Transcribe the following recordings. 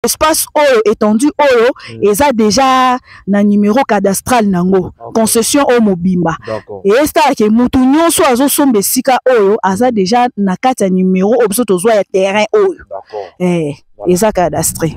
espace oyo étendue oyo mm. eza déjà na numéro cadastral nango okay. concession oyo mobimba esala ke mutu nyonso azosomba esika oyo aza déjà na kati ya numéro oyo biso tozwa ya terrain oyo eh, voilà. eza cadastre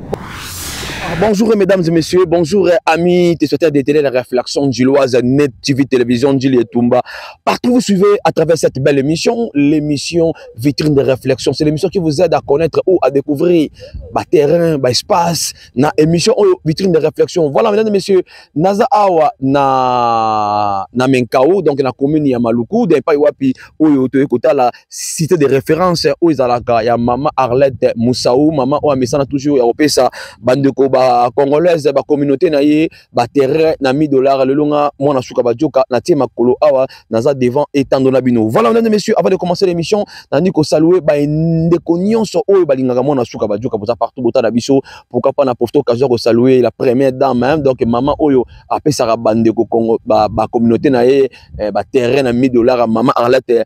ah, Bonjour mesdames et messieurs, bonjour euh, amis téléspectateurs de télé la réflexion gilloise, Net TV Télévision, Gilles et Tumba. Partout vous suivez à travers cette belle émission, l'émission vitrine de réflexion c'est l'émission qui vous aide à connaître ou à découvrir ba terrain ba espace na émission oyo oh, vitrine de réflexion voilà mesdames et messieurs naza awa na na menkao donc na commune ya maluku de epai wapi oyo toye kotala cité de référence oyo ezalaka ya mama arlette musau mama oyo amesana toujours ya kopesa bandeko ba congolaise ba communauté na ye ba terrain na 1000 dollars lelo nga mwana suka ba joka na tie makolo awa naza devant etando na bino voilà mesdames et messieurs avant de commencer l'émission nandi ko saluer ba ndeko nyonso oyo balingaka mwana suka ba joka boza partout bota na biso pourquoi pas na profiter occasion ko saluer la première dame hein? donc maman oyo apesaka ba ndeko kongo ba, ba communauté na ye eh, ba terrain na 1000 dollars maman Arlette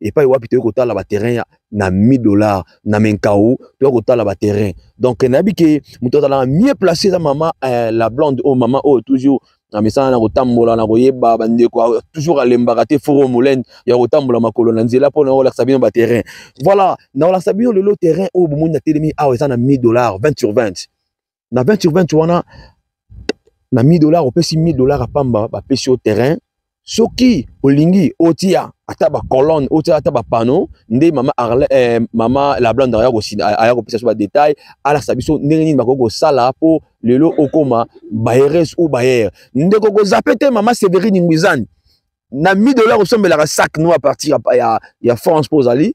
epai wapi toyei kotala baterrain ya na 1000 dollars na menkau toyei kotala baterrain donc nayebi ke moto azalaka mieux place eza mama eh, la blonde oyo oh, mama oyo oh, toujours na misala na kotambola na koyeba bandeko toujours alembaka te foro molende ya kotambola makolo na nzela mpo na kolakisa bino baterrain voilà na kolakisa bino lelo terrain oyo bomoni na telemi awa eza na 1000 dollars 20 sur 20 na 20 sur 20 wana na 1000 dollars opesi 1000 dollars apamba bapesi yo terrain soki olingi otia ata bacolonne otia ata bapano nde mama arle eh, mama lablande aya kopesa biso badetail alakisa biso ndenge nini bakoki kosala mpo lelo okoma bayeres ou bayer ndeko kozape te mama severine ngwizani na 1000 dollars osombelaka sac no a partir ya, ya, ya france mpo ozali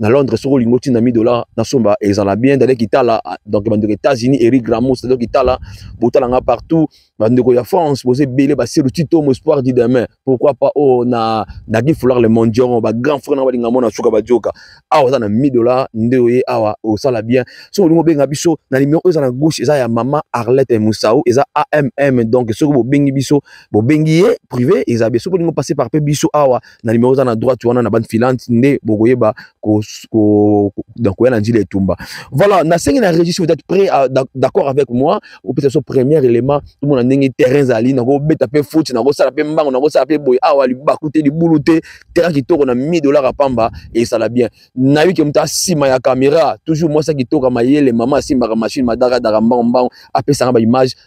na londres soki olingi otinda 1000 dollars nasomba ezala bien dale kitala ah, donc bandeko états-unis eric ramos dale kitala botala nga partout bandeko ya france boza ebele basiru titomo espoir du demain pourquoi pas oyo oh, na dagi foulard le mondion bagrand frère na balinga mona suka bajoka awa oza na 1000 dollars nde oye awa osala bien soki olingi obenga biso na nimero oyo eza na gauche eza ya mama arlette musau eza amm donc soki bobengi biso bobengi ye privé eza bien soki olingi opase par pe biso awa na nimero oza na droite wana na bande filante nde bokoyeba koya na njila etumba voilà nasengi na registre vous êtes prêt euh, d'accord avec moi opesa so premier élément tomona ndenge terrain ezali nakobeta mpe foot nakosala mpe mbango nakosala mpe boye awa libaku te libulu te terrain kitoko na 1000 dollars apamba esala bien nayebi ke moto asima ya camera toujours mwasi ya kitoko mayele mama asimbaka machine madakadaka mbango mbango apesaka baimage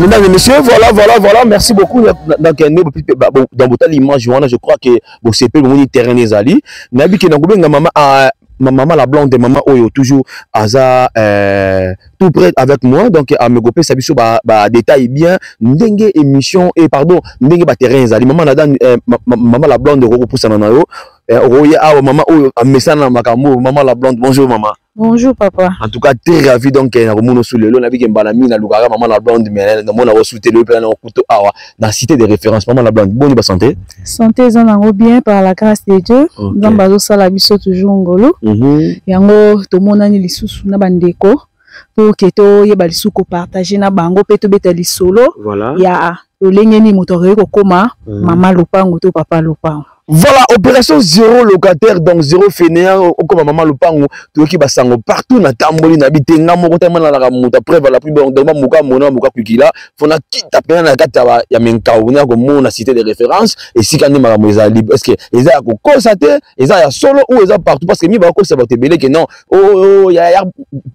mesdames et messieurs voilà voilà voilà merci beaucoup donc nde dans botali image wana je crois que bosepeli bomoni terrain ezali nayebi ke nakobenga mama ah, mama la blonde mama oyo toujours aza euh, tout près avec moi donc amekopesa biso badétail bien ndenge émission et pardon ndenge baterrain ezali mama nada euh, mama la blonde okokopusana na yo eh, okoye awa mama oyo amesana na makambo oyo mama la blonde bonjour mama bonjour papa en tout cas très ravi donc eh, nakomona osu lelo nabi ke mbala mingi nalukaka mama la blonde mais eh, namona osuti lelo mpena na okuto awa na cité de référence mama la blonde boni basanté santé eza nango bien par la grâce de dieu nzambe okay. azosala biso toujours ngolu mm -hmm. yango tomonani lisusu na bandeko pour que toyeba lisusu kopartage na bango mpe tobeta lisolo voilà. ya lolenge nini moto akoki kokoma mm. mama lopango to papa lopango Voilà, opération zéro locataire, donc zéro fainéant, comme maman le pango, tu qui basango partout na tamboli na bité nga moko tellement na la muta preuve la plus bon donc muka mona muka kukila, fona kita pena na kata ba ya menka ou na ko mona cité de référence et si quand maman les libre est-ce que ils a ko constater, ils a solo ou ils a partout parce que mi ba ko ça va te belé que non oyo ya ya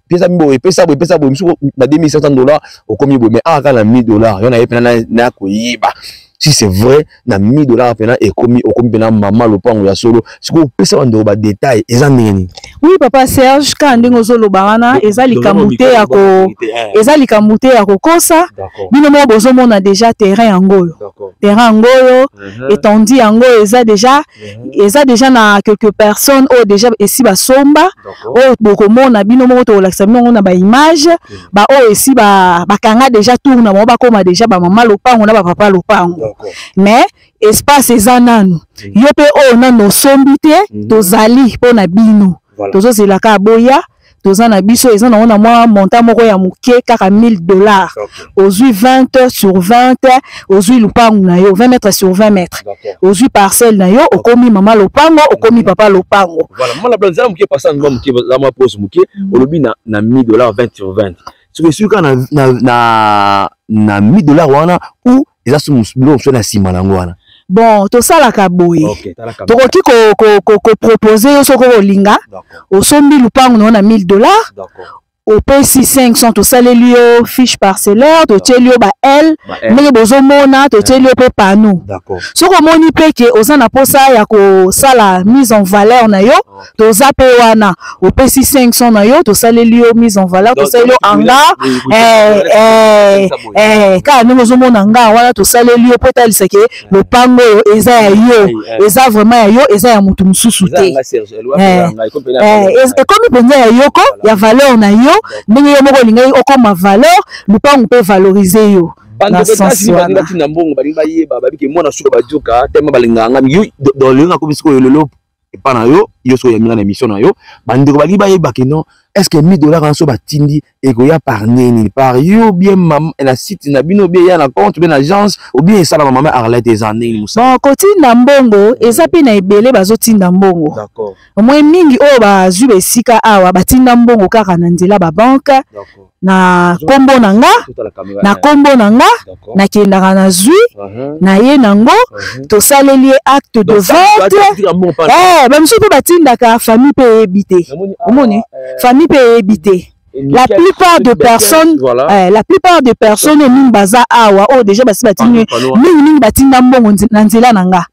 pesa mbo pesa bo pesa bo misuko na 2500 dollars okomi bo mais ah kana 1000 dollars yona yepena na na koyiba si c'est vrai na 1000 dollars pena ekomi okomi pena mama lopango ya solo siko pesa ba ndo ba détail eza ndenge nini oui papa Serge ka ndenge ozoloba wana eza likambo te ya ko eza likambo te ya kokosa bino moko bozomona déjà terrain yango oyo terrain yango oyo mhm. etandi yango eza déjà eza deja na quelques personnes oyo deja esi basomba oyo bokomona bino moko tokolakisa bino yango na baimage baoyo esi bakanga deja tour na bango bakóma deja bamama lopango na bapapa lopango mais espace eza nanu yo mpe oyo nanu osombi te tozali mpo na bino Voilà. tozo zela ka boya toza na biso eza nango na mwa montant moko ya moke kaka 1000 dollars Okay. ozwi 20 sur 20 ozwi lopangu na yo 20 mètre sur 20 mètre D'accord. ozwi parcelle na yo okomi mama lopango okomi papa lopango Voilà, mala blanc zala muke pasa ngwa muke zala mwa pose muke olobi na na 1000 dollars 20 sur 20. Soki esuki kaka na na na na 1000 dollars wana ou eza so biloko mosusu na nsima na yango wana bon tosalaka boye okay, tokoki kopropose ko, ko, yo soki olinga osombi lupangu na yo na 1000 dollars opesi 500 tosaleli yo fiche parcellaire totyeli yo bael ndenge bozomona totyeli yo mpe pano soki omoni mpe ke oza na mposa ya kosala mise en valeur na yo toza pe wana opesi 500 na yo tosaleli yo mise en valeur tosaleli yo hangar eh, eh, eh, kaka ndenge ozomona hangar wana tosaleli yo mpo etalisa ke lopango oyo eza ya yo eza vraiment ya yo eza ya moto mosusu te ekomi mpenza ya yoko ya valeur na yo ndenge yo moko olingaki okoma valeur lopango mpe valorize yo bandokotasinbalingatina mbongo balingi bayeba babike mwana suka bajoka tema balinganga yo lelo nakomi sikoyo lelo epa na yo yo soki oyambi nga na émission na yo bandeko balingi bayeba ke non est ce que 1000 dollars wana so batindi ekoya par nini par yo bien mama na site na bino bien ya na compte bien na agence ou bien esalama mama arlette eza ndenge mosala bon kotinda mbongo eza mpe na ebele bazotinda mbongo omoi mingi oyo bazwi ba esika awa batinda mbongo kaka na nzela babanke na kombo na nga na kombo na nga nakendaka na zwi uh-huh. na ye nango uh-huh. tosaleli ye acte de vente eh, bamosusu mpe batindaka famille mpe eyebi te omoni ah, eh. famille mpe eyebi te la plupart de personnes voilà. eh, la plupart de personnes mingi baza awa oyo oh, déjà basi batindi mingi mingi batinda mbongo na nzela na nga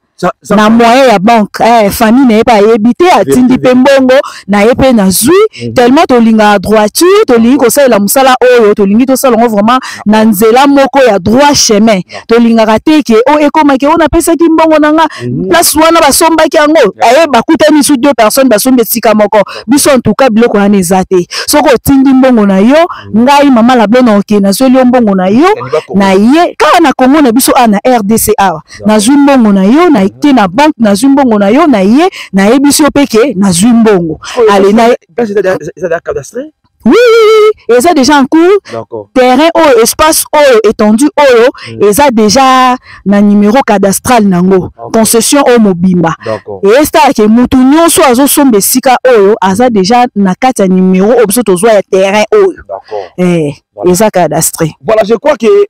na moyen ya banque eh, famille na ye mpe ayebi te atindi mpe mbongo na ye mpe nazwi mhm. tellement tolingaka droiture tolingi kosalela mosala oyo tolingi tosala yango vraiment na nzela moko ya droit chemin tolingaka te ke o oh, ekomaki oyo oh, napesaki mbongo na nga mhm. place wana basombaki yango aye eh, bakutani su deux personnes basombi esika moko biso en tout cas biloko wana eza te soki otindi mbongo na yo mhm. ngai mama lablona oke nazweli yo mbongo na yo na ye kaka na kongo na biso awa na rdc awa nazwi mbongo na yo na te na banque nazwi mbongo na yo na ye nayebisi yo mpe ke nazwi mbongo ale na oui, oui, eza déjà en cours terrain oyo espace oyo étendue oyo mm. eza déjà na numéro cadastral nango okay. concession oyo mobimba esala ke motu nyonso azosomba esika oyo aza déjà na kati ya numéro oyo biso tozwa ya terrain oyo eh, eza cadastre voilà je crois que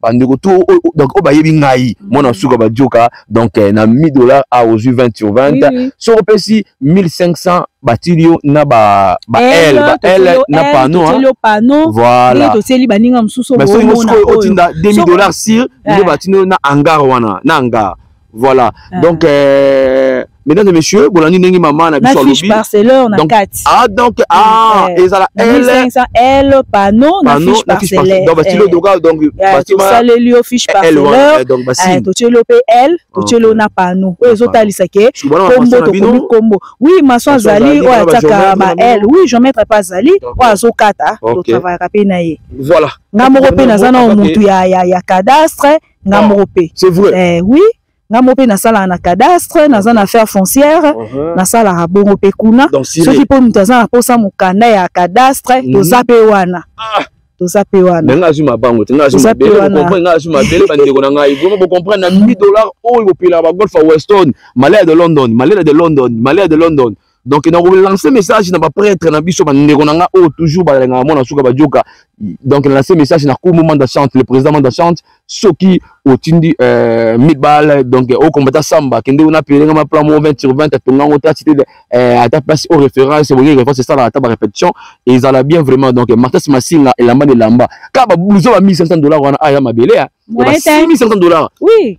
bandeko tu donc oyo bayebi ngai mm. mwana suka badioka donc eh, na 1000 dollars a ozwi 20 sur 20 soki opesi 1500 batili yo na ba ba L ba L na pano hein voilà to seli baninga mususu bo mais soki otinda 2000 dollars sur nde eh. batino na hangar wana na hangar Voilà. Ah. Donc, euh, mesdames et messieurs, bolandi ndenge maman na biso alobi. Na parcelleur na kati. Ah donc ah euh, ezala L 500 L panneau na fiche parcellaire. Donc bastilo eh. doka donc eh, bastilo ma. Saleli yo fiche parcelleur. Eh, donc bastilo. To tielo pe L, to tielo na panneau. Oyo ezo talisa ke combo to komi combo. Oui, maso azali oyo ataka ba L. Oui, je mettrai pas azali oyo azo kata to travailler pe na ye. Voilà. Nga moko pe naza na mutu ya ya cadastre. nga ah, moko mpe c'est vrai eh, oui nga moko mpe nasalaka na cadastre naza na affaire foncière uh -huh. nasalaka bongo mpe kuna soki mpo moto aza na mposa mokanda ya cadastre mm -hmm. toza mpe wana ah. toza mpe wana nga azwi mabango te nga azwi mabele bokomprendre nga azwi mabele bandeko na ngai bongo bokomprendre na 1000 dollars oyo bopelaka bagolf ya weston malaya de london malaya de london malaya de london donc na relancer message na ba prêtre na biso ba ndeko na nga oyo toujours ba lenga mona suka ba joka donc na lancer message na kumu manda chante le président manda chante soki otindi euh, mibale donc au combattant samba kende ona pelenga ma plan 20 sur 20 tonga ngo ta cité euh, ata place au référence boye référence ça la taba répétition et ils allaient bien vraiment donc Marcus Massinga et lamba de lamba ka ba blouson ba 1500 dollars wana aya mabele ya 1500 dollars oui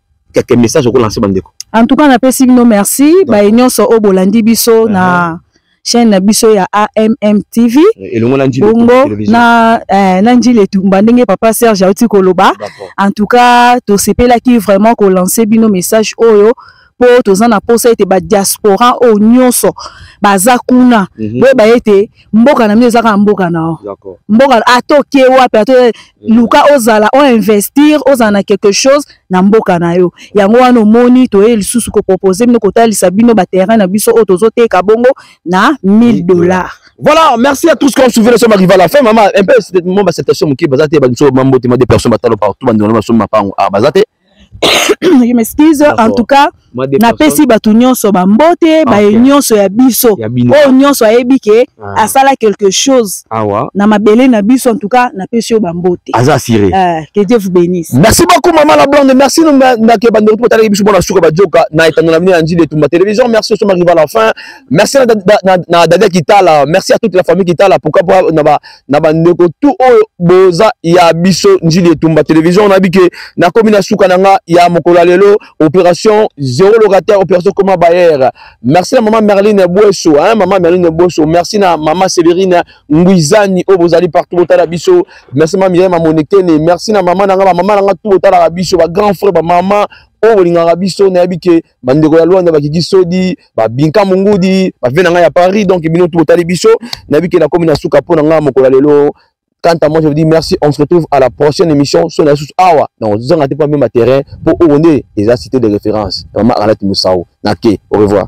quelques messages au lancer bandeko en tout cas na pesi bino merci ba nyonso o bolandi biso uh-huh. na chaîne na biso ya AMM TV eh, elongo na njile bongo na eh, na njile tumba ndenge papa Serge auti koloba en tout cas to sepelaki vraiment ko lancer bino message oyo po toza na posa ete ba diaspora oyo nyonso baza kuna mm -hmm. boyeba ete mboka na bino eza kaka mboka na yo mboka ata okie wapi ata eh. luka ozala o investir ozala na quelque chose na mboka na yo yango wana omoni toye lisusu kopropose bino kotalisa bino baterrain na biso oyo tozoteka bongo na 1000 dollars Voilà, merci à tous qui ont suivi le sommet rival à la fin. Maman, un peu, mon acceptation, mon qui, bazate, banso, mambo, témoin des personnes, batalo, partout, bandona, basum, mapango, ah, bazate. je m'excuse en tout cas napesi bato nyonso bambote ah, baye nyonso ya biso oyo nyonso ayebi ke ah. asala quelque chose Awa. na mabele na biso en tout cas napesi yo bambote aza assuré uh, que dieu vous bénisse merci beaucoup maman la blonde merci nake bande retour talaki biso bona suka bajoka na etando na bino ya njili etumba télévision merci oso mariva la fin merci na dadia kitala merci à toute la famille kitala pourquoi na ba na bandeko tu oyo boza ya biso njili etumba television on a dit que na komi na suka na nga ya mokola lelo opération zéro locataire opération koma bayer merci na maman Merline Boesso hein maman Merline Boesso merci na maman Séverine Nguizani oyo bozali partout botala biso merci maman Myriam Monekene merci na maman na nga ba maman na nga tout botala biso ba grand frère ba maman oyo bolingaka biso nayebi ke bandeko ya Luanda bakiki sodi babinka mungudi bave na ngai ya Paris donc bino tout botali biso nayebi ke nakomi na suka mpo na ngai mokolo ya lelo Quant à moi, je vous dis merci. On se retrouve à la prochaine émission. Son asus awa. Non, vous en ratez pas même terrain pour Oronde. Et la cité de référence. Maman Alat Moussao. Nake. Au revoir.